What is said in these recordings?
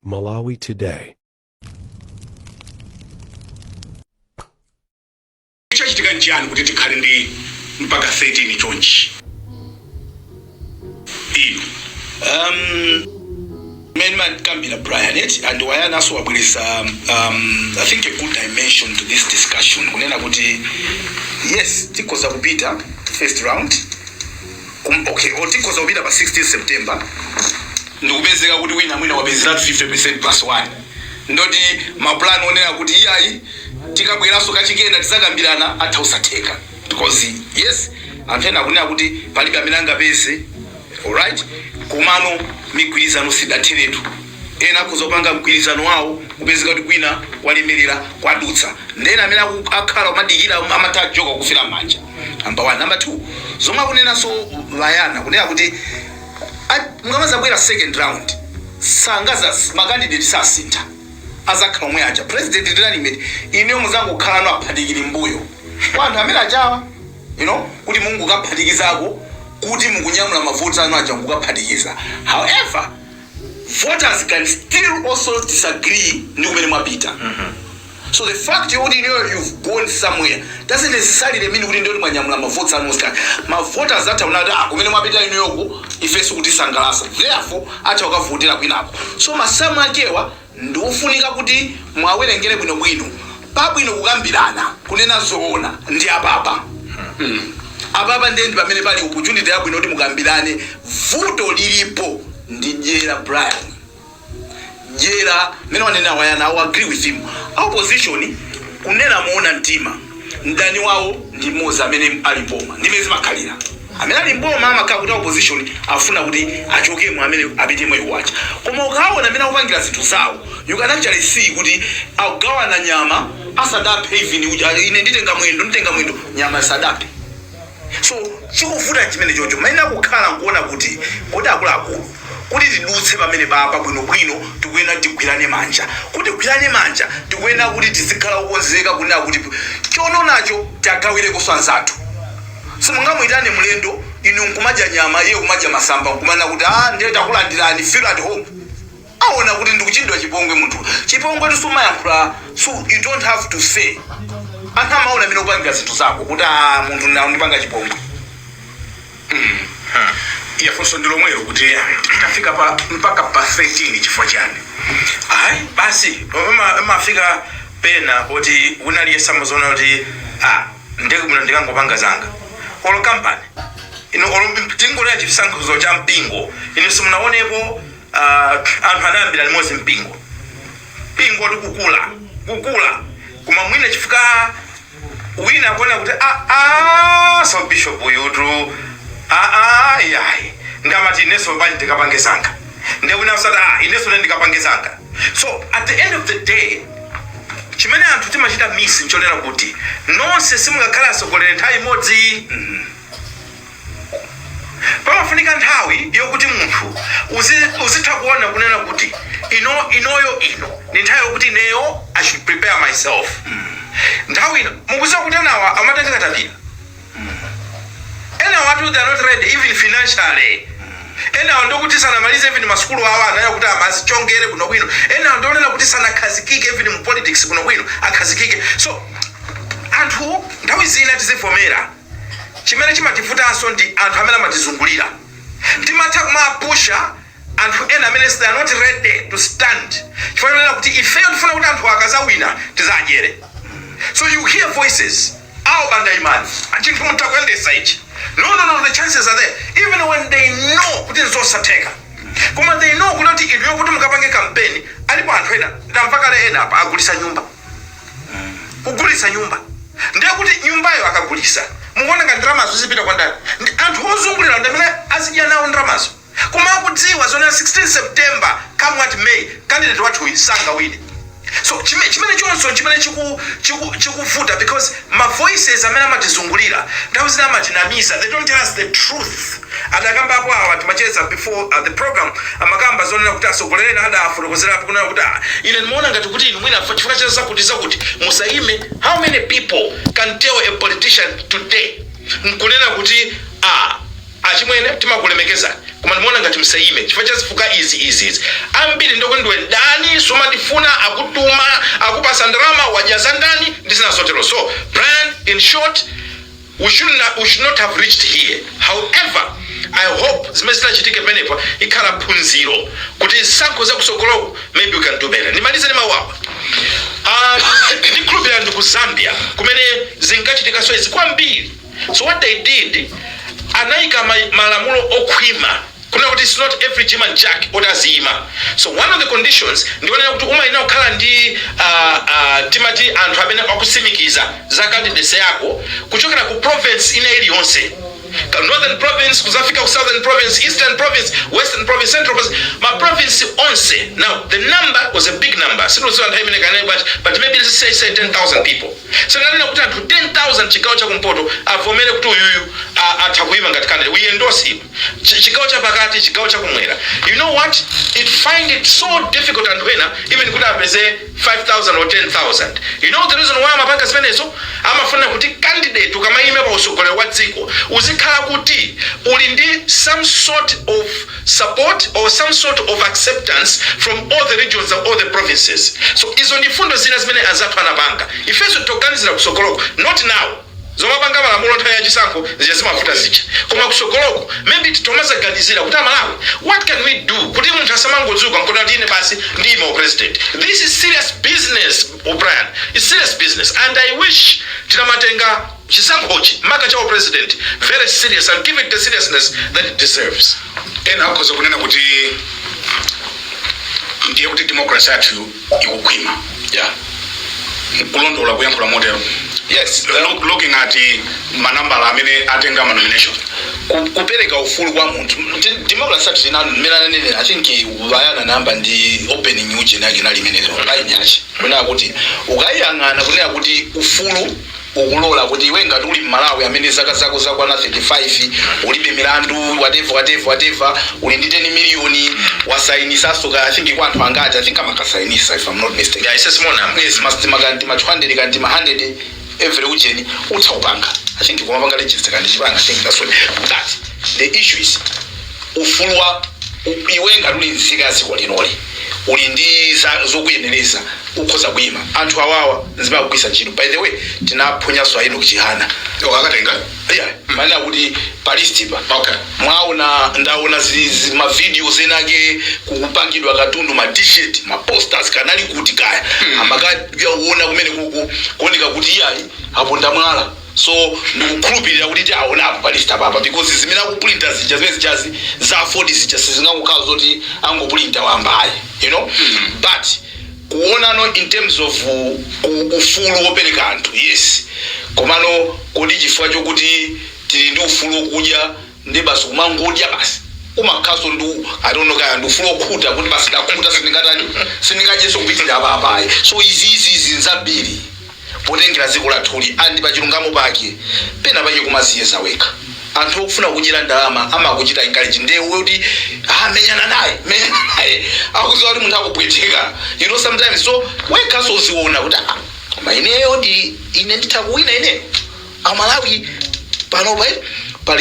Malawi Today. chachitika nchiani kuti tikhale ndi mpaka 13 chonchi inu um, mmene makambira brian eti and Wayanaso wabweresa um, i think a good dimension to this discussion kunena kuti yes tikhoza kupita to first round Kum, okay, or tikhoza kupita pa 16 September ndikupezeka kuti wina mwina wapezeratu 50% plus 1 ndoti maplan onena kuti iyayi tikabweranso kachikenanso tizakambirana atha usatheka because yes anthu ena akunena kuti palibe amene angapeze alright komano migwirizano sidatheretu ena akhoza kupanga mgwirizano wawo kupezeka kuti kwina kwalemerera kwadutsa ndena amene aku- akhala kumadikira amathawa njoka kufera manja number one number two zomwe akunenanso a Wayana kunena kuti a- mukamazabwera second round sangazati makandidate sasintha azakhala omwe aja president ndi running mate ineyo muzangokhala ano aphatikiri mbuyo kwa anthu amene ajawa you know kuti mungokaphatikizako kuti mukunyamula mavoti anu aja mukukaphatikiza however voters can still also disagree ndi kumene mwapita So the fact yokuti inuyo you've gone somewhere doesn't necessarily mean kuti ndiyoti mwanyamula mavoti anu onse kana ma voters atha kunena kuti ah kumene mwapita inuyoko ife sikukutisangalasa therefore atha kukavotera kwinako so masamu akewa ndikofunika kuti muwawerengere bwinobwino pabwino kukambirana kunena zoona ndi apapa mm. apapa ndiye ndi pamene pali opportunity yabwino kuti mukambirane vuto lilipo ndi dyera brian dyera mene wanenera wayana I agree with him a opposition kunena moona mtima mdani wawo ndi mmodzi amene ali mboma ndimene zimakhalira amene ali mboma amakhala kuti a opposition afuna kuti achokemo amene apitemo iwo aja koma ukaona mmene akupangira zinthu zawo you can actually see kuti akugawana nyama asadaphe even uja ine nditenga mwendo nditenga mwendo nyama sadaphe so chikuvuta nchimene chocho mayenera kukhala nkuona kuti kodi akuluakulu kuti tidutse pamene papa bwinobwino tikuyenera kuti tigwirane manja kuti tigwirane manja tikuyenera kuti tizikhala okonzeka kunena kuti chononacho tiwagawirekonso anzathu simungamuyitane mlendo inu nkumadya nyama iye kumadya masamba nkumanena kuti ah ndiye takulandirani feel at home awona kuti ndikuchitidwa chipongwe munthu chipongwetu sumayankhula so you don't have to say anthu amaona amene kupangira zinthu zako kuti a munthu nawo ndipange chipongwe ya funso ndi lomwelo kuti tafika pa mpaka pa 13 chifukwa chani ayi basi ama- amafika pena kuti wina aliyense amaziona kuti ah, nde bwino ndikangopanga zanga olo kampani ino olo tingolowera chisankho cha mpingo ino simunaonepo Uh, anthu anayambira limodzi mpingo mpingo nkukula kukula koma mwina chifukwa wina akuona kuti a a so bishop uyutu a a yayi ndi amati ineso bani ndikapange zanga nde wina nkuzati a ineso ne ndikapange zanga so at the end of the day chimene anthu timachita miss nchonena kuti nonse simungakhala atsogoleri nthawi imodzi Pamafunika nthawi yokuti munthu uzi uzitha kuona kunena kuti ino inoyo ndi nthawi yokuti ineyo I should prepare myself nthawi ino mukuziwa kuti enawa amatenga katapira enawatu they are not ready even financially enawa ndiokuti sanamalize even masukulu awo anayo kuti amazichongera bwino bwino enawa ndionena kuti sanakhazikike even mu politics bwino bwino akhazikike so anthu nthawi zina tizivomera Chimene chimativutanso ndi anthu amene amatizungulira. Timatha kumapusha anthu ena amene they are not ready to stand chifukwa chonena kuti ifeyo tifuna kuti anthuwa akazawina tizadyere. So you hear voices a Banda imani chinthu mutha kuyendesa ichi no no no the chances are there even when they know kuti nzosatheka koma they know kuti inuyo kuti mukapange kampeni alipo anthu ena ndamva kale ena apa agulitsa nyumba kugulitsa nyumba ndiye kuti nyumbayo akagulisa mukuona ngati ndalamazo zipita kwa ndani ndi anthu ozungulirawo ndi amene azidya nawo ndalamazo koma akudziwa zonena 16 september come what may candidate wathuyi sangawine so chime- chimenechonso nchimene chiku- chiku- chikuvuta because Ma voices amene amatizungulira nthawi zina amatinamiza, they don't tell us the truth. Adakambapo awa timacheza before the program, amakamba zonena kuti atsogoleri ena adafotokozerapo kunena kuti ah ine ndimaona ngati kuti inu mwina chifukwa cha zakuti zakuti musayime, how many people can tell a politician today nkunena kuti ah. Achimwene timakulemekezani koma ndimaona ngati msayime chifukwa cha zifukwa izi izi izi ambiri ndiokuti ndiwe mdani sumatifuna akutuma akupasa ndalama wadya za ndani ndi zina zotero so Brian in short we should no we should not have reached here however I hope zimene zitachitike pamenepa ikhala phunziro kuti zisankho za kusogoloku maybe we can do better ndimalize ndi mawu awa Ah, ndikhulupirira ndi ku Zambia kumene zinkachitikaso izi kwambiri So what they did, anaika ma- malamulo okhwima kunena kuti it's not every Jim and Jack oti aziyima so one of the conditions ndikunena kuti umayenera kukhala ndi ah, ah, timati anthu amene akutsimikiza za candidacy yako kuchokera ku province ina iliyonse Ka- northern province kuzafika ku southern province eastern province western province central province ma province onse now the number was a big number sindidziwa nthawi imene kanali bwanji but maybe let's say, say 10000 people So amanena kuti anthu 10,000 chigawo cha kumpoto avomere kuti uyuyu a atha kuima ngati candidate we endorse him ch chigawo cha pakati chigawo cha kumwera you know what it find it so difficult anthu ena even kuti apeze 5000 or 10000 you know the reason why amapanga zimenezo amafunira kuti candidate ukamaima pa usogoleri wa dziko uzikhala kuti uli ndi some sort of support or some sort of acceptance from all the regions or the provinces so izo ndi mfundo zina zimene anzathu anapanga ifenso titoganizira kusogoloko not now zomapanga malamulo nthawi ya chisankho zija zimavuta zija koma kusogoloko maybe titomazaganizira kuti amalawi what can we do kuti munthu asamangodzuka nkuti kuti ine basi ndiyima u president this is serious business O'Brien it's serious business and i wish tinamatenga Chisankhochi maka cha upresidenti very serious and give it the seriousness that it deserves. Ena akhoza kunena kuti ndiye kuti democracy yathu ikukhwima yeah. Nkulondola kuyankhula motero yes. Look, looking at manambala amene atenga ma nomination kupereka ufulu kwa munthu democracy yathu ina mmene ananenera I think bayana namba ndi opening uje nake nali imenezo painyachi kunena kuti ukayang'ana kunena kuti ufulu ukulola kuti iwe ngati uli mmalawi amene zaka zako zakwana 35 ulibe milandu whatever whatever whatever uli ndi 10 miliyoni wasainisaso ka i think kwa anthu angati i think amakasainisa if i'm not mistaken Yeah, it's a small number. yes ma signature kanti ma 200 kanti ma 100 every ujeni utha kupanga i think kumapanga register kanti chipanga i think that's what but the issue is ufulu wa u, iwe ngati uli nzika ya dziko lino uli ndi za, zokuyenereza ukhoza kuyima anthu awawa nzimene akugwiritsa ntchito by the way tinaphonyanso a Enoch Chihana Yo, akatenga yeah, mmanena kuti pa listipa Okay. mwaona ndaona zi- zi- mavideos enake kukupangidwa katundu ma t-shirt ma posters kanali kuti kaya amakadya uona kumene kuku kuoneka kuti iyayi aponda mwala so ndikukhulupilira kuti tiaonapo pa list apapa because zimene akupulinta zija zimene zijazi za aford zija sizingakhale zoti angopulinta wamba ayi you know but kuonano in terms of u- u- ufulu wopereka anthu yes komano kodi chifukwa chokuti tili ndi ufulu wokudya nde basi kumangodya basi umakhaso ndi i don't know kaya ndi ufulu okhuta kuti basi ndakhuta sindingatani sindingadyeso kupitirira apa apa ayi so izizi nzambiri potengera dziko lathuli andi pachilungamo pake pena pake kumaziyeza wekha anthu okufuna kudyera ndalama amakuchita encourage nde iwe kuti ah, menyana naye menyana naye akuziwa kuti munthu akupweteka you know sometimes so wekhaso uziona kuti ah, koma ineyo ndi ine nditha kuwina ineyo amalawi panopa eh, pano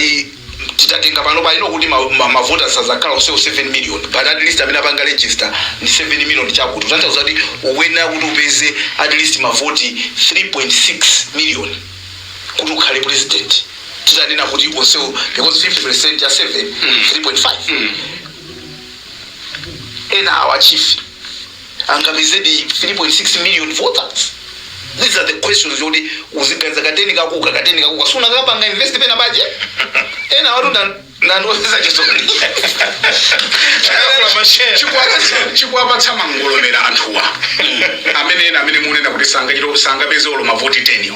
titatenga panopa lino kuti ma- ma- mavota azakhala onsewo 7 million but at least amene apanga register ndi 7 million chikutanthauza kuti ukuyenera kuti upeze at least mavoti 3.6 million kuti ukhale president titanena kuti onsewo because 50 percent ya 7 3.5 ena awa, Chief angapezedi 3.6 million voters these are the questions yoti uziganiza kateni kako ka kateni kako ka usanakapanga invest pena pache ena watu akundimvetsa chisoni Chikuwapatsa- chikuwapatsa mangolomera anthuwa amene ena amene munena kuti sangachita sangapeze olo mavoti 10 yo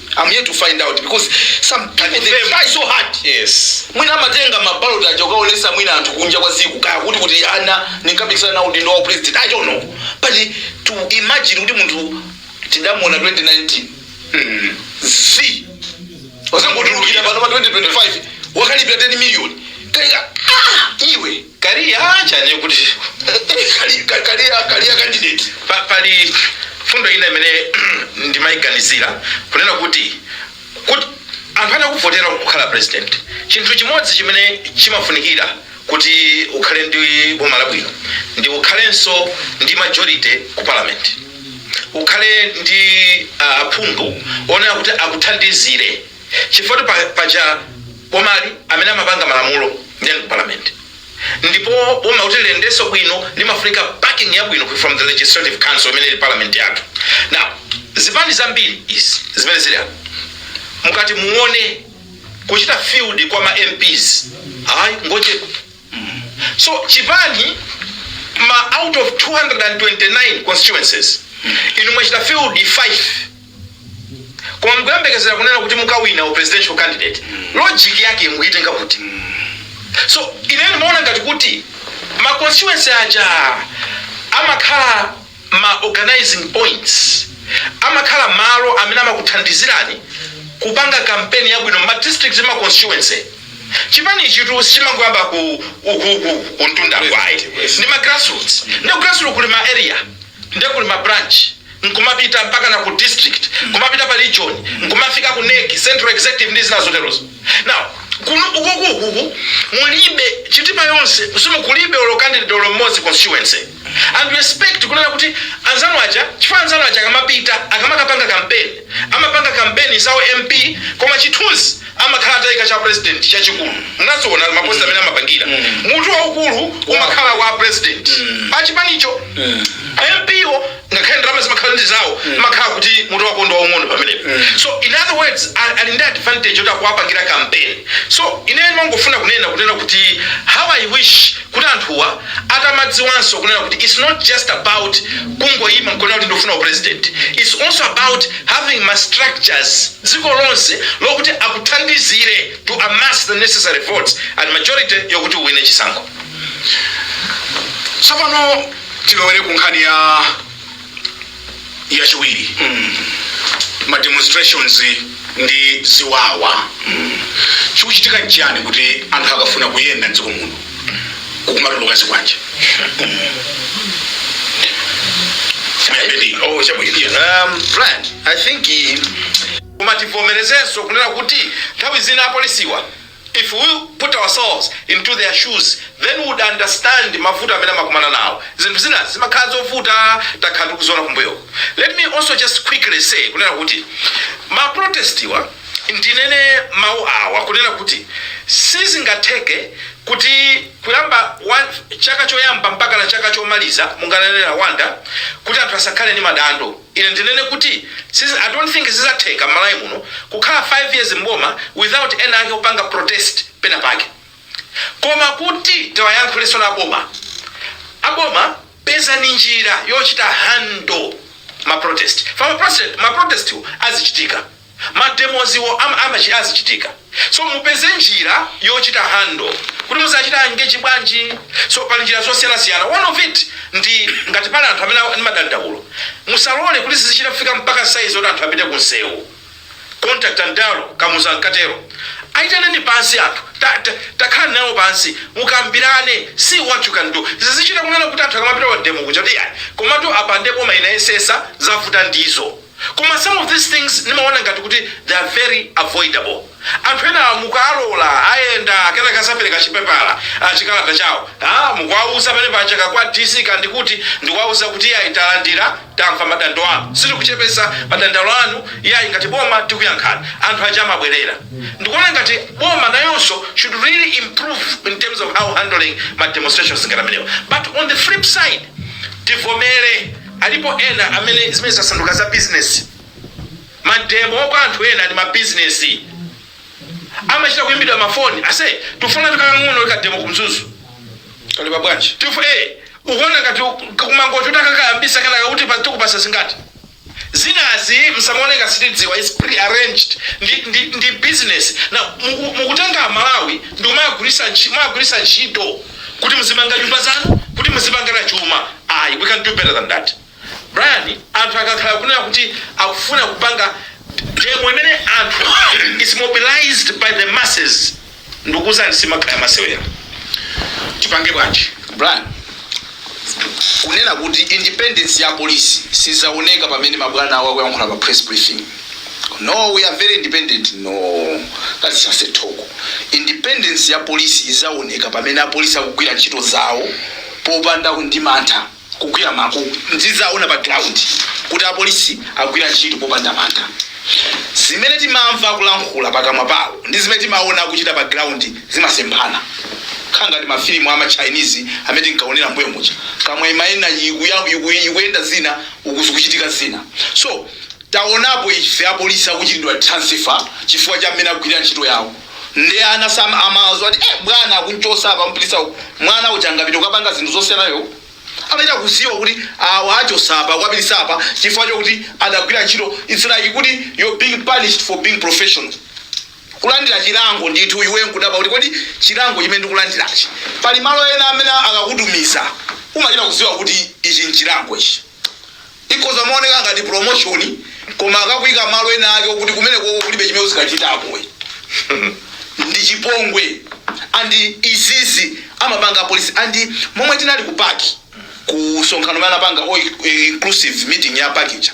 I'm here to find out because some people they try so hard. Yes. Mwina amatenga maballot aja kukaonesa mwina anthu kunja kwa dziko kaya kuti kuti ana ndinkapikisana nawo udindo wa president. I don't know. But to imagine kuti munthu tidamuona 2019. Mm. Zi. Wazangotulukira pano pa 2025 wakalipira 10 million. Kaya ah iwe. Kaliya uja ndiye kuti kali- ka- kaliya kaliya candidate Pa- pali mfundo ina imene ndimaiganizira kunena kuti kuti anthu atakuvotera kukhala president chinthu chimodzi chimene chimafunikira kuti ukhale ndi boma labwino ndi ukhalenso ndi majority ku parliament ukhale ndi ah, aphungu onena kuti akuthandizire chifukwa paja Bomali amene amapanga malamulo nde ali ku parliament ndipo boma kuti liyendeso bwino limafunika backing yabwino from the legislative council imene ili parliament yathu. Now zipani zambiri izi zimene zili apa mukati muone kuchita field kwa ma mps ayi ngochepa so chipani ma out of 229 constituencies inu mwachita field 5 koma mukuyembekezera kunena kuti mukawina u presidential candidate logic yake mukuyitenga kuti so ine ndimaona ngati kuti ma constituency aja amakhala ma organizing points amakhala malo amene amakuthandizirani kupanga kampeni yabwino ma district ma constituency chipani chitu sichimangoyamba ku ukuku kumtundako ayi ndi ma grassroots ndi grassroots kuli ma area nde kuli ma branch nkumapita mpaka ku district nkumapita pa region nkumafika ku nec central executive ndi zina zoterozo now kuno ukuku ukuku ku Chitipa yonse simukulibe olo candidate olo mmodzi constituency and we expect kunena kuti anzanu aja chifukwa anzanu aja akamapita akamakapanga campaign amapanga campaign za u mp koma chithunzi amakhala ataika cha president chachikulu munawaona ma poster amene amapangira mutu waukulu umakhala wa president achipanicho mp wo ngakhale ndalama zimakhala ndi zawo imakhala kuti mutu wako ndi waung'ono pamenepo so in other words a- ali ndi advantage yoti akuwapangira campaign so ine ndimangofuna kunena kunena kuti how i wish kuti anthuwa atamadziwanso kunena kuti its not just about kungoima nkunena kuti ndikufuna upresident its also about having ma structures dziko lonse lokuti akuthandizire to amass the necessary votes and majority yokuti uwine chisankho tsopano tilowere ku nkhani ya yachiwiri ma demonstrations ndi ziwawa chikuchitika nchiyani kuti anthu akafuna kuyenda mdziko muno kukumatuluka zikwanje oh chabwino um brian i think eh, kumati tivomerezenso kunena kuti nthawi zina apolisiwa If we put ourselves into their shoes then we would understand mavuto amene amakumana nawo. Zinthu zinazi zimakhala zovuta takhala tikuziona kumbuyoku. Let me also just quickly say kunena kuti ma protest wa ndinene mau awa kunena kuti sizingatheke kuti kuyamba chaka choyamba mpakana chaka chomaliza munganene Rwanda kuti anthu asakhale ndi madando. Ine ndinene kuti sizi, I don't think zidzatheka m'Malawi muno kukhala 5 years m'boma without ena ake kupanga protest pena pake. Koma kuti tiwayankhule nawo aboma, aboma pezani njira yochita handle ma protest chifukwa ma protest, ma protest wo azichitika. ma demos wo ama azichitika azichitika so mupeze njira yochita handle kuti muzachita engage bwanji so pali njira zosiyana siyana one of it ndi ngati pali anthu amene ali ndi madandaulo musalole kuti zizichita kufika mpaka size yoti anthu apite ku nsewu contact and dialogue Kamuzu ankatero aitaneni pansi anthu ta- ta- takhala nawo pansi mukambirane see what you can do zizichita kunena kuti anthu akamapita ma demo kuja kuti "Iya, komatu apande boma inayesetsa zavuta ndizo Koma some of these things ndimaona ngati kuti they are very avoidable. Anthu enawa mukuwalola ayenda kenaka akapereka chipepala, chikalata chawo, haa, mukuwauza pamene paja ka kwa DC ka ndi kuti ndikuwauza kuti iyayi talandira, tamva madando anu, sitikuchepetsa madandaulo anu iyayi ngati boma tikuyankhani. Anthu aja amabwerera. Ndikuona ngati boma nayonso should really improve in terms of handling ma demonstrations ngati amenewa. But on the flip side tivomere. Alipo ena amene zimene zasanduka za business. Mademo kwa anthu ena ndi ma business. Amachita kuimbidwa ma phone. Ase, tufuna tukang'ono ka demo ku Mzuzu. Kali pa bwanji. Tifu eh ukuona ngati kumangoti utakakayambisa kana kuti pa tukupasa zingati. Zinazi musamaone ngati sitidziwa is pre-arranged ndi, ndi, ndi business. Na mukutenga Malawi ndi umagulisa ntchito, umagulisa ntchito. kuti muzimanga nyumba zanu kuti muzipanga chuma ayi we can do better than that brian anthu akakhala kunena kuti akufuna kupanga demo imene anthu is mobilized by the masses ndikuuzani simakhala masewera tipange bwanji brian kunena kuti independence ya polisi sizaoneka pamene mabwana awo akuyankhula pa press briefing no we are very independent no that's just a talk independence ya polisi izaoneka pamene apolisi akugwira ntchito zawo popanda ndi mantha kugwira mako ndizaona pa ground kuti apolisi agwira ntchito popanda mantha zimene timamva akulankhula pakamwa pawo ndi zimene timaona akuchita pa ground zimasemphana nkhanga ndi mafilimu a ma Chinese amene tinkaonera mbuyo muja kamwa imayenda ikuyenda zina uku zikuchitika zina so Tawonapo ife apolisi akuchitidwa transfer chifukwa cha mmene akugwilira ntchito yawo nde anawa samazwa kuti eh bwana akumuchosa apa amupititsa uku mwana uja angapite kukapanga zinthu zosiyanazo amachita kuziwa kuti awachosa apa akuwapititsa apa chifukwa chokuti adagwira ntchito it's like kuti you're being punished for being professional kulandira chilango ndithu iwe nkudabwa kuti kodi chilango chimene ndikulandirachi pali malo ena amene akakutumiza umachita kuziwa kuti ichi nchilango ichi ikhoza kumaoneka ngati promotion koma akakuika malo ena ake okuti kumene koko kulibe chimene uzikachitako ndi chipongwe andi izizi amapanga apolisi andi momwe tinali ku PAC ku sonkhano mene anapanga all inclusive meeting ya PAC ija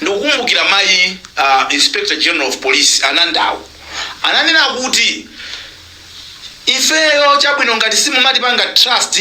ndikukumbukira mayi uh, inspector general of police anandawo ananena kuti ifeyo chabwino ngati simumatipanga trust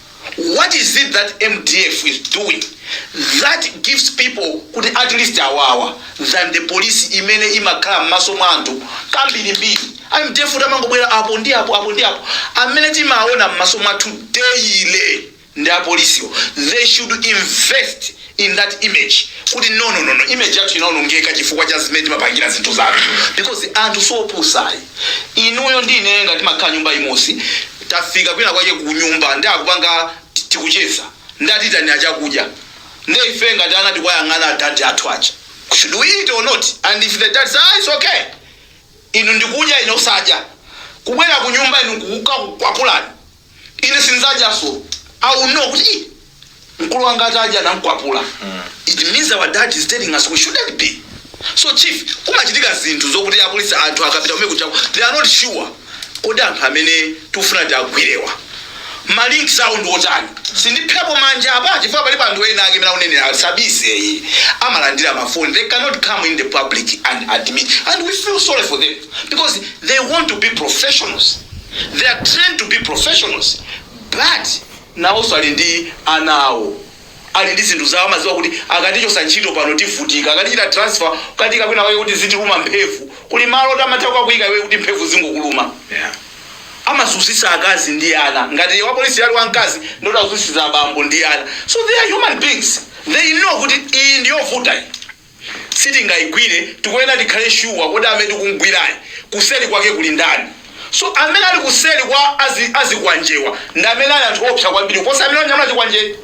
what is it that mdf is doing that gives people kuti at least awawa than the police imene imakhala m'maso mwa anthu kambirimbiri a mdf amangobwera apo ndi apo apo ndi apo amene timaona m'maso mwathu daily ndi apolisiwo they should invest in that image kuti no no no no image yathu inaonongeka chifukwa cha zimene timapangira zinthu zathu because anthu siopusa ayi inuyo ndi ineyo ngati timakhala nyumba imosi tafika kwina kwake ku nyumba ndi akupanga ti- tikucheza ndatiitanira chakudya ndi ife ngati ana tikwayang'ana adadi athu aja should we eat or not and if the dad says ah, it's okay inu ndikudya ine osadya kubwera ku nyumba inu kukakukwapulani ine sinzadyanso i will know kuti "Ih, mkulu wanga atadya namkwapula it means our dad is telling us we shouldn't be so chief kumachitika zinthu zokuti apolisi anthu akapita kumene ku Nchesiko they are not sure kodi anthu amene tikufuna tiagwirewa malinks awo ndi otani sindipserapo manja apa chifukwa palipo anthu ena ake mmene amanenera sabise iyi amalandira mafoni they cannot come in the public and admit and we feel sorry for them because they want to be professionals they are trained to be professionals but nawonso ali ndi ana awo ali ndi zinthu zawo amadziwa kuti akatichotsa ntchito pano tivutika akatichita transfer kukatiika kwina kwake kuti zitiluma mphemvu kuli malo oti amatha kukakuyika iwe kuti mphemvu zizingokuluma Yeah. amazunzitsa akazi ndi ana ngati wapolisi ali wamkazi ndoti azunzitsa abambo ndi ana so they are human beings they know kuti iyi ndiyovuta iyi sitingaigwire tikuyenera tikhale sure kodi amene tikumgwirayi kuseli kwake kuli ndani so amene ali kuseli kwa azi, azikwanjewa ndi amene ali anthu oopsa kwambiri kuposa amene anyamula chikwanjeyi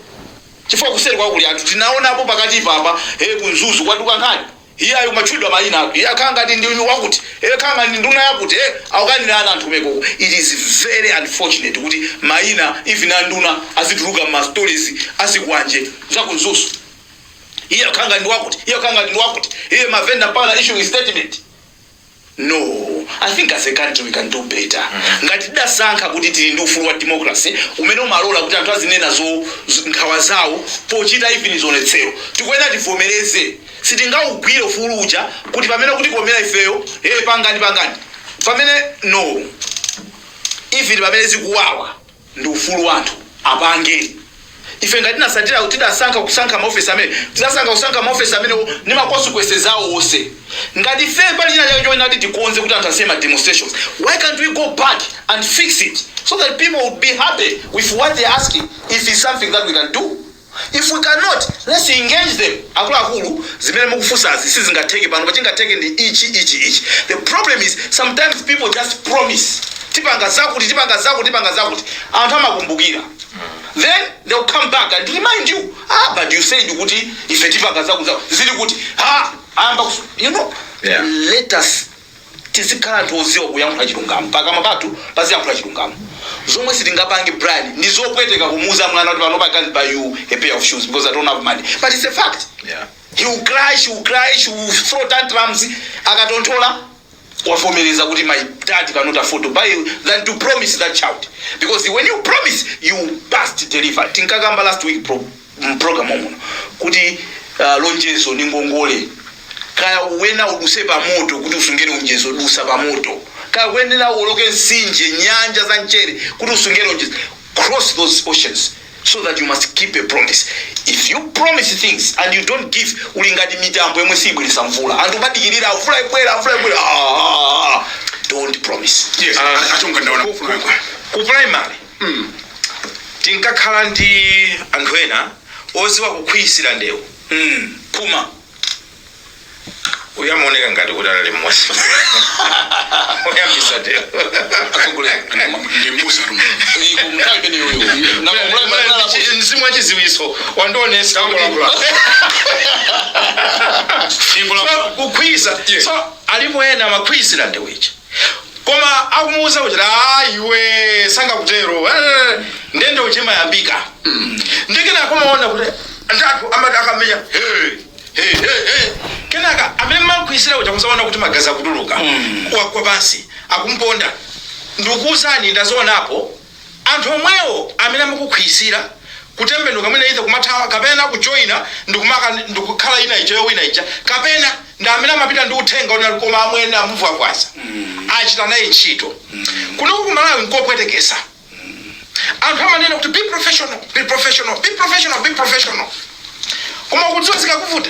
chifukwa kuseliko kuli anthu tinaonapo pakati apapa hey, ku Mzuzu kwatuluka nkhani iyayi amatchulidwa mayina awo iye akhala ngati ndi wakuti iye akhala ngati ndi nduna yakuti eh, akukanira ana anthu mekoko it is very unfortunate kuti mayina even anduna azituluka m'ma stories a zikwanje za ku Mzuzu iye akhala ngati ndi wakuti iye akhala ngati ndi wakuti iye mavenda mpaka issuing statement no i think as a country we can do better ngati tidasankha kuti tili ndi ufulu wa democracy umene umalola kuti anthu azinena zo z- nkhawa zawo pochita even zionetsero tikuyenera tivomereze sitingaugwire ufulu uja kuti pamene ukutikomera ifeyo e pangani pangani pamene no even pamene zikuwawa Ndi ufulu wa anthu apange. Ife ngati tinatsatira, tidasankha kusankha ma office amene, tidasankha kusankha ma office amenewo ndi ma consequences awo wonse. Ngati ifeyo pali china chake choyenera kuti tikonze kuti anthu asiye ma demonstrations, why can't we go back and fix it so that people would be happy with what they are asking if it's something that we can do? If we cannot, let's engage them. Akuluakulu, zimene mukufunsazi sizingatheke pano, but chingatheke ndi ichi ichi ichi. The problem is sometimes people just promise. Tipanga zakuti, tipanga zakuti, tipanga zakuti. Anthu amakumbukira. Then they will come back and remind you, ah, but you said kuti ife tipanga zakuti zakuti. Zili kuti, ah, ayamba kusu. You know, Yeah. let us tizikhala anthu odziwa kuyankhula chilungamo pakamwa pathu paziyankhula chilungamo zomwe sitingapange brian ndi zopweteka kumuuza mwana kuti panopa i can't buy you a pair of shoes because i don't have money but it's a fact Yeah. he will cry she will cry she will throw tantrums akatonthola wavomereza kuti my dad cannot afford to buy you than to promise that child because when you promise you must deliver tinkakamba last week pro mprogramu muno kuti uh, lonjezo ni ngongole kaya uyenera uduse pamoto kuti usunge lonjezo dusa pamoto kaya uyenera uwoloke nsinje nyanja za mchere kuti usunge lonjezo cross those oceans so that you must keep a promise if you promise things and you don't give uli ngati mitambo yomwe siyibweresa mvula anthu kumadikirira mvula ibwera mvula ibwera Ah, don't promise yes a Chunga ndaona kufuna ku primary mm tinkakhala ndi anthu ena oziwa kukhwizira ndewu mm phuma uyu amaoneka ngati kuti anali mmozi oyambisa ndewu mzimu wa chiziwiso wandionesa kukhwizira so alipo ena amakhwizira ndewu ichi kumakamuuza kuti a iwe sangakutero eh, ndiye ndewu imayambika ndiye kenaka kumaona kuti ndi anthu amati akamenya "Hey, hey, hey, hey." kenaka amene mmamukhwizira uja kuzaona kuti magazi akutuluka wagwa pansi akumponda ndikukuuzani ndazionapo Anthu omwewo amene amakukhwizira, kutembenuka mwina either kumathawa kapena kujoina ndikumaka ndikukhala ina ija yowina ija kapena ndi amene amapita ndi uthenga oti koma amwene amuvwavwaza achita naye ntchito. Kunoko ku Malawi nkopwetekesa. Anthu amanena kuti be professional be professional be professional be professional koma ukudziwa zikakuvuta?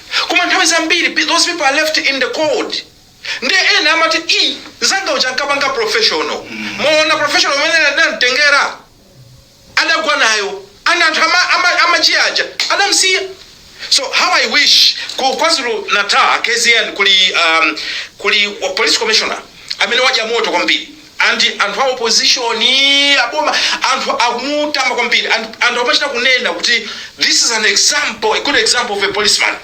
Koma nthawi zambiri pe those people are left in the cold nde ena amati ii nzanga uja ankapanga professional mwaona professional imene adamtengera adagwa nayo and anthu ama, ama, amaji aja adamsiya so how i wish ku kwazulu natal kzn kuli um, kuli wa police commissioner amene wadya moto kwambiri And anthu a opposition aboma anthu akumutama kwambiri and anthu akumachita kunena kuti this is an example a good example of a policeman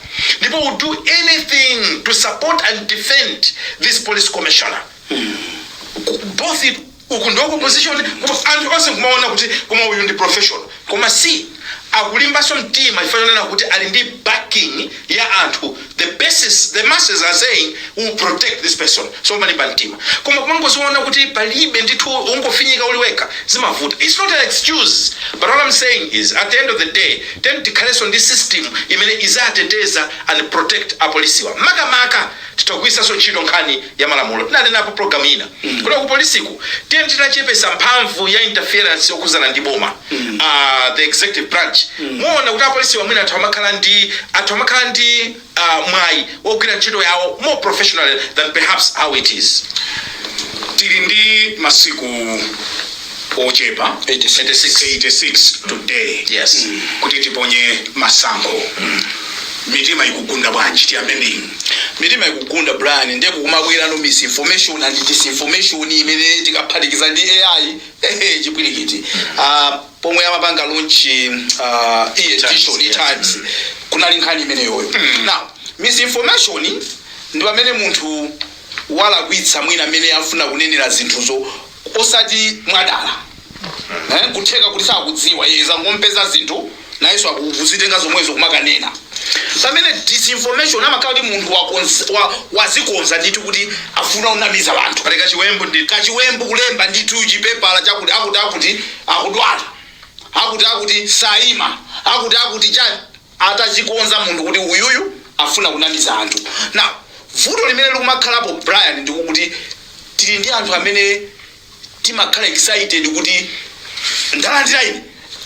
people will do anything to support and defend this police commissioner both uku ndi wa opposition anthu onse kumaona kuti koma uyu ndi professional. Koma si akulimbanso mtima chifukwa chonena kuti ali ndi backing ya anthu, the masses, the masses are saying we will protect this person, so umalimba mtima. Koma kumangoziona kuti palibe ndithu ungofinyika uli wekha zimavuta. It's not an excuse but what am saying is at the end of the day tiyeni tikhalenso ndi system imene izateteza and protect apolisiwa makamaka. Titha kugwiritsanso ntchito nkhani ya malamulo tinanenapo pulogalamu ina kuti kupolisiku tiyeni titachepetsa mphamvu ya interference yokhudzana ndi boma ah, the executive branch muona kuti apolisiwa mwina atha kumakhala ndi atha kumakhala ndi ah, mwayi wogwira ntchito yawo more professionally than perhaps how it is tili ndi masiku ochepa 86. 86 today Yes. kuti tiponye masankho mitima ikugunda bwanji tiyambe ndinu mitima ikugunda brian ndiye kukumabwera ino misinformation and disinformation imene tikaphatikiza ndi ai ehe, chipwirikiti Ah, pomwe amapanga lonchi uh, edition yeah. times kunali nkhani imeneyoyo now misinformation ndi pamene munthu walakwitsa mwina amene afuna kunenera zinthuzo osati mwadala eh, kutheka kuti sakudziwa iye zangompeza zinthu nayenso akuzitenga zomwezo kumakanena pamene disinformation amakhala kuti munthu wakonza- wa- wazikonza ndithu kuti akufuna unamiza anthu pali kachiwembu ndi kachiwembu kulemba ndithu chipepala chakuti akuti akuti akudwala akuti akuti saima akuti akuti chani atachikonza munthu kuti uyuyu afuna kunamiza anthu now vuto limene likumakhalapo Brian ndi lakuti tili ndi anthu amene timakhala excited kuti ndalandira ine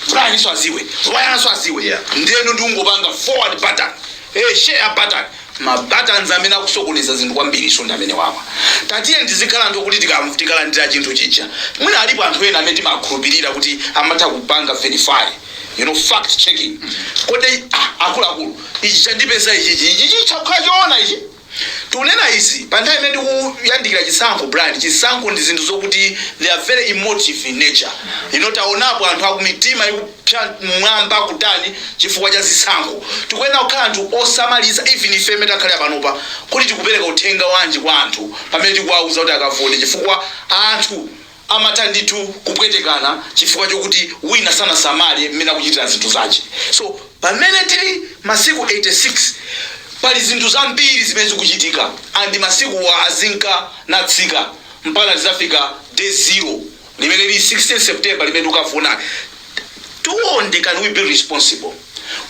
Brian so aziwe Brian so aziwe Yeah. ndeno ndingopanga forward button eh share button ma buttons amene akusokoneza zinthu kwambiri so ndi amene awa tatiyeni tizikhala anthu kuti tika- tikalandira chinthu chija mwina alipo anthu ena amene timakhulupirira kuti amatha kupanga verify you know fact checking kodi ah, akuluakulu ichi chandipeza ichichi ichi chitha kukhala choona ichi tikunena izi pa nthawi imene tikuyandikira chisankho brian chisankho ndi zinthu zokuti they are very emotive in nature you know taonapo anthu akumitima ikupsa mwina kutani chifukwa cha zisankho tikuyenera kukhala anthu osamalitsa even ife amene takhala panopa kuti tikupereka uthenga wanji kwa anthu pamene tikuwauza kuti akavote chifukwa anthu amatha ndithu kupwetekana chifukwa chokuti wina sanasamale mmene akuchitira zinthu zache so pamene tili masiku 86 pali zinthu zambiri zimene zikuchitika and masikuwa azinka natsika mpaka tizafika day zero limene lili 16 September limene tikukafika Tione can we be responsible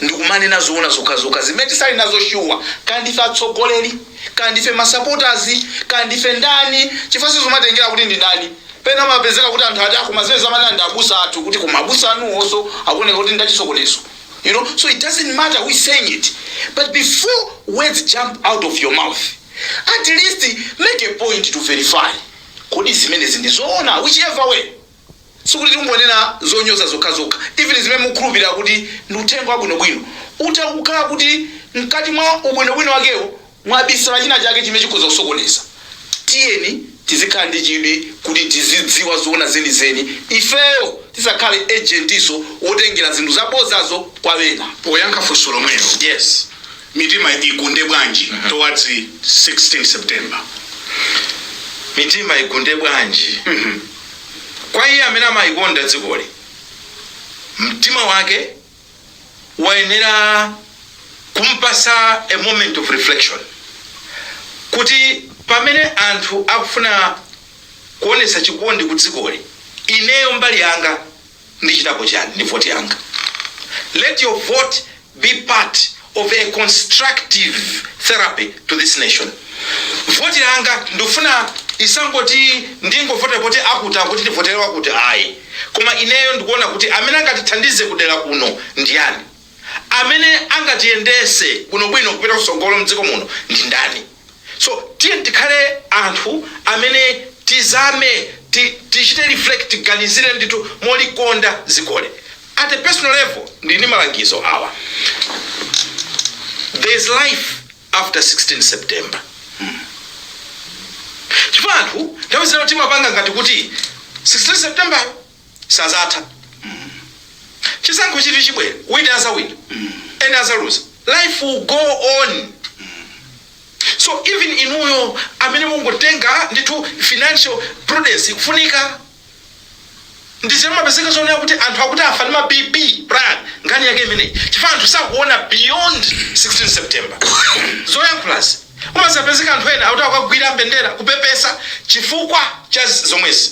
ndikumanena zoona zokhazokha zimene tili nazo sure kaya ndife atsogoleli kaya ndife ma supporters kaya ndife ndani chifukwa sizumatengela kuti ndi ndani pena umapezeka kuti anthu akuti koma zimenezi amanena ndi abusa athu kuti koma abusa anuwonso akuoneka kuti ndachisokonezo you know so it doesn't matter who is saying it but before words jump out of your mouth at least make a point to verify kodi zimenezi ndi zoona whichever way sikuti tikungonena zonyoza zokhazokha even zimene mukukhulupirira kuti ndi uthenga wabwinobwino utha kukhala kuti mkati mwa ubwinobwino wakewo mwabisala china chake chimene chikhoza kusokoneza tiyeni tizikhala ndi chidwi kuti tizidziwa zoona zenizeni ifeyo tisakhale agentinso wotengera zinthu zabozazo kwa ena poyankha funso lomwelo yes mitima igunde bwanji towards 16 september mitima igunde bwanji Kwa iye amene amaikonda dzikoli, mtima wake wayenera kumpatsa a moment of reflection kuti pamene anthu akufuna kuonetsa chikondi kudzikoli, ineyo mbali yanga. Ndichitapo chani ndi vote yanga? Let your vote be part of a constructive therapy to this nation. Vote yanga ndikufuna isangoti ndingovota poti akuti akuti ndivotere wakuti ayi. Koma ineyo ndikuona kuti amene angatithandize kudera kuno ndi yani? Amene angatiyendese bwinobwino kupita kusogolo mdziko muno ndi ndani? So tiyeni tikhale anthu amene tizame tichite reflect tiganizire ndithu molikonda dzikoli. At a personal level ndili ndi malangizo awa, There is life after 16 September chifukwa anthu nthawi zina timapanga ngati kuti 16 September sazatha chisankho chiti chibwera wina azawina ena azaluza life will go on so even inuyo amene mukutenga ngongole ndithu financial prudence ikufunika chifukwa zimapezeka zonena kuti anthu akuti afa ndi ma bp brian nkhani yake imeneyi chifukwa anthu sakuona beyond 16 september zoyankhulazi umazapezeka anthu ena akuti akagwira mbendera kupepesa chifukwa cha zomwezi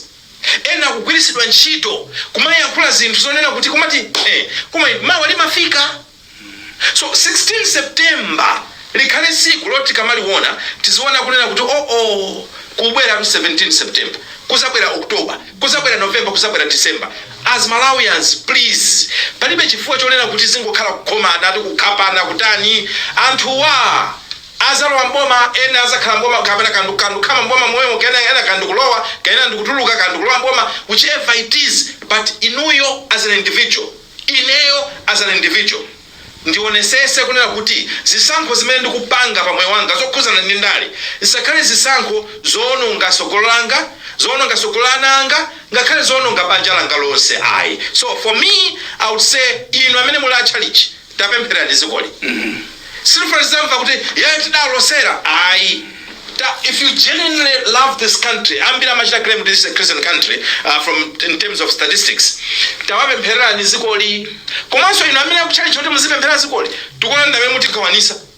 Ena akugwiritsidwa ntchito kumayankhula zinthu zonena kuti kumati eh koma mawa limafika. So 16 September likhale tsiku loti tikamaliona tiziona kunena kuti oh oh kukubweratu 17 September, kuzabwera October, kuzabwera November, kuzabwera December. As Malawians please palibe chifukwa chonena kuti tizingokhala kukhomana ati kukhapana kutani anthuwa. azalowa m'boma ena azakhala m'boma kapena ka ka ndikukhala m'boma momwemo kena ena ka ndikulowa kena ndikutuluka ka ndikulowa m'boma which ever it is but inuyo as an individual ineyo as an individual ndionesese kunena kuti zisankho zimene ndikupanga pa moyo wanga zokhuzana ndi ndale zisakhale zisankho zoononga sogolo langa zoononga sogolo la ana anga ngakhale zoononga banja langa lonse ayi so for me i would say inu amene muli a tchalitchi tapemphererani zikoli sitifuna tizamva kuti ee tidalosera ayi ta if you genuinely love this country ambiri amachita claim kuti this is a christian country uh, from in terms of statistics tawapemphererani zikoli komanso inu amene a tchalitchi kuti muzipempherera zikoli tikuona ndamene mutikhawanisa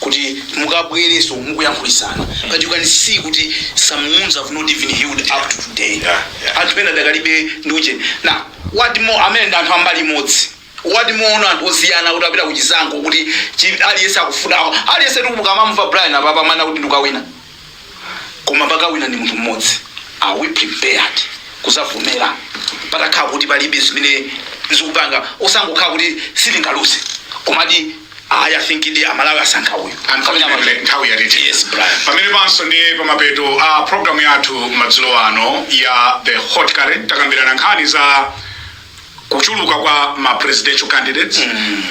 kuti mukabwereso mukuyankhulisana but you can see kuti some wounds have not even healed up to today Yeah, yeah. anthu pena adakalibe ndi ujeni na what more amene ndi anthu ambali imodzi what more anthu osiyana kuti apita kuchisankho kuti chi- aliyense akufuna aliyense tikumamva brian apapa mana kuti ndikawina koma pakawina ndi munthu mmodzi are we prepared kuzavomera patakhala kuti palibe zimene zikupanga osangokhala kuti sitingaluze komadi ayi i think ndi amalawi asankha uyu Unfortunately, nthawi yatiti Yes, Brian. pamene panso ndi pamapeto a programu yathu madzulo ano ya the hot current takambirana nkhani za kuchuluka kwa ma presidential candidates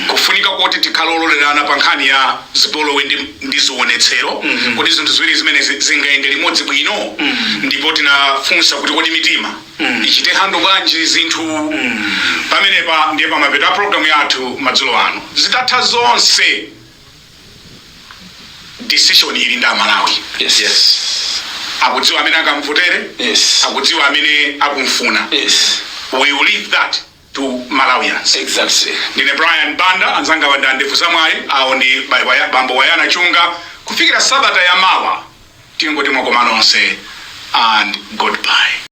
kufunika koti tikhale ololerana pa nkhani ya zipolowe ndi, ndi zionetsero kodi zinthu ziwiri zimenezi zingayende limodzi bwino ndipo tinafunsa kuti kodi mitima ichite handle bwanji zinthu pamenepa ndiye pamapeto a programu yathu madzulo ano zitatha zonse decision ili ndi amalawi yes yes akudziwa amene akamvotere yes akudziwa amene akumfuna yes we will leave that to malawians exactly ndine brian banda anzanga wonder ndevu zamwayi awo ndi ba- waya- bambo bayana chunga kufikira sabata ya mawa tingoti mwakoma nonse and goodbye